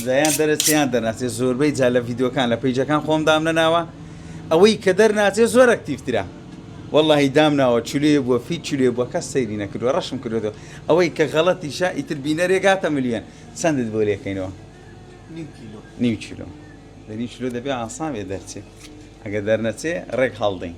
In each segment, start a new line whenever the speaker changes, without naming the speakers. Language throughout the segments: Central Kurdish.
دەیان دەرە چیان دەرناچێ زۆربەی جا لە ڤیدۆکان لە پیجەکان خۆم دام نەناوە ئەوەی کە دەرناچێ زۆر ئەکتیفترە واللهی دام ناوە چلێ بووە فی چلێ بووە کەس سەیری نەکردوە ڕەشم کردو ئەوەی کە غەڵەتیشە ئیتر بینەرێ گاتە ملیۆن چەندت بۆ لێکەینەوە نیو چلۆ لە نیو چلۆ دەبێ ئاساێ دەرچێ ئەگە دەرنەچێ ڕێک هەڵدەین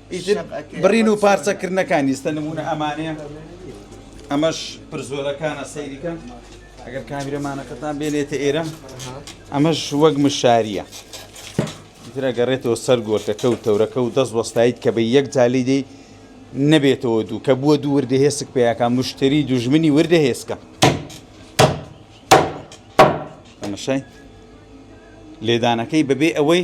ئیتر
بڕین و پارچە کردنەکانی ستە نمونە ئەمانەیە ئەمەش پرزۆلەکانە سەیریکە ئەگەر کامیرەمانەکەتان بێنێتە ئێرە ئەمەش وەک مشاریە ترە گەڕێتەوە سەر گۆرتەکە و تەورەکە و دەست وەستایت کە بە یەک جالی دەی نەبێتەوە دوو کە بووە دوو وردە هێسک پیاکە مشتری دوژمنی وردە هێسکە ئەمەشای لێدانەکەی بەبێ ئەوەی